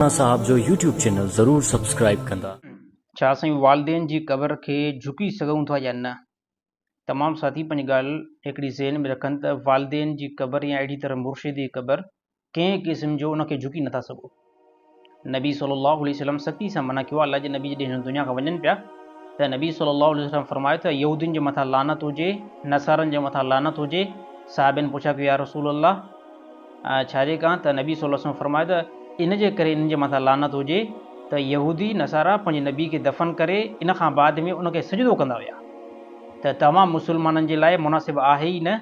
مولانا صاحب جو YouTube channel ضرور سبسڪرائيب ڪندا. ڇا اسين والدين جي قبر کي جهڪي سگهون ٿا يا نه؟ تمام ساٿي پنهنجي ڳالهه هڪڙي ذهن ۾ رکن ته والدين جي قبر يا اهڙي طرح مرشد جي قبر ڪنهن قسم جو ان کي جهڪي نٿا سگهو. نبي صلي الله عليه وسلم سختي سان منع ڪيو آهي الله جي نبي جڏهن هن دنيا کان وڃن پيا ته نبي صلي الله عليه وسلم فرمايو ته يهودين جي مٿان لعنت هجي نصارن جي مٿان لعنت هجي صحابين پڇا ڪيو يا رسول الله ڇاجي ڪان ته نبي صلي الله عليه وسلم فرمايو ته ان جي ڪري انهن جي مٿان لعنت هجي ته يهودي نصارا پنهنجي نبي کي دفن ڪري ان کان بعد ۾ ان کي سجدو ڪندا هيا ته توهان مسلمانن جي لاء مناسب آهي ئي نه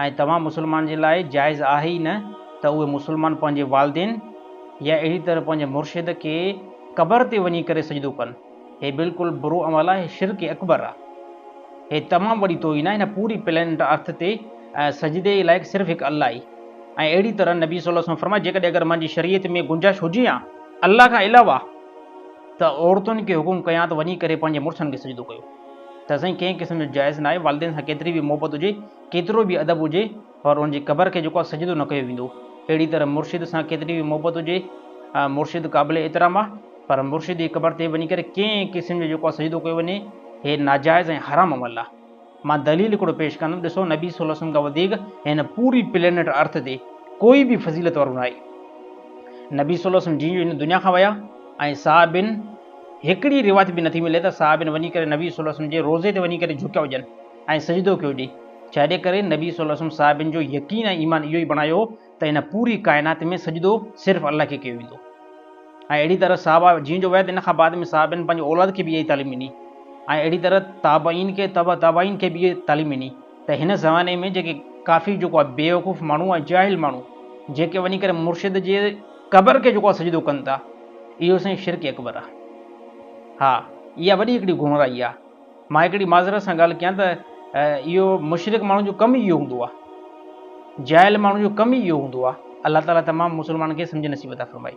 ۽ توهان مسلمانن جي لاء جائز آهي ئي نه ته اهي مسلمان پنهنجي والدين يا اهڙي طرح پنهنجي مرشد کي قبر تي وڃي ڪري سجدو ڪن. هي بلڪل برو عمل آهي، هي شرڪ اڪبر آهي. هي تمام وڏي توهين آهي هن پوري پلينٽ ارٿ تي ۽ سجدي جي لائق صرف هڪ الله ئي ۽ اهڙي طرح نبي صلي الله عليه وسلم فرمايو جيڪڏهن اگر منهنجي شريعت ۾ گنجائش هجي ها الله کان علاوه ته عورتن کي حڪم ڪيان ته وڃي ڪري پنهنجي مڙسن کي سجدو ڪيو ته سائين ڪنهن قسم جو جائز ناهي والدين سان ڪيتري به محبت هجي ڪيترو به ادب هجي پر ان جي قبر کي جيڪو آ سجدو نه ڪيو ويندو. اهڙي طرح مرشد سان ڪيتري به محبت هجي، مرشد قابل احترام آ، پر مرشد جي قبر تي وڃي ڪري ڪنهن قسم جو جيڪو آ سجدو ڪيو وڃي، هي ناجائز ۽ حرام عمل آ. مان دليل هڪڙو پيش ڪندم، ڏسو نبي صلي الله عليه وسلم کان وڌيڪ هن پوري پلينيٽ ارٿ تي ڪوئي به فضيلت وارو ناهي. نبي صلي الله عليه وسلم جيئن جو هن دنيا کان ويا ۽ صحابين هڪڙي روايت به نه ٿي ملي ته صحابين وڃي ڪري نبي صلي الله عليه وسلم جي روضي تي وڃي ڪري جهڪيا هجن. ۽ سجدو ڪيو ڏي، جهڏي ڪري نبي صلي الله عليه وسلم صحابين جو يقين ۽ ايمان اهو ئي بڻايو هو ته هن پوري ڪائنات ۾ سجدو صرف الله کي ڪيو ويندو ۽ اهڙي طرح صحابه جين جو ويت ان کان بعد ۾ صحابين پنهنجي اولاد کي به اها ئي تعليم ڏني ۽ اهڙي طرح تابعين کي تبع تابعين کي به اها تعليم ڏني ته هن زماني ۾ جيڪي ڪافر جيڪو آهي بيوقوف ماڻهو ۽ جاهل ماڻهو جيڪي وڃي ڪري مرشد جي قبر کي جيڪو آهي سجدو ڪن ٿا اهو سائين شرڪ اڪبر آهي ها اها وڏي هڪڙي گمراهي آهي. مان هڪڙي معذرت سان ڳالهه ڪيان ته اهو مشرڪ ماڻهن جو ڪم ئي اهو هوندو آهي. جاهل ماڻهن جو ڪم ئي اهو هوندو آهي. الله تعاليٰ تمام مسلمانن کي سمجهه نصيب عطا فرمائي.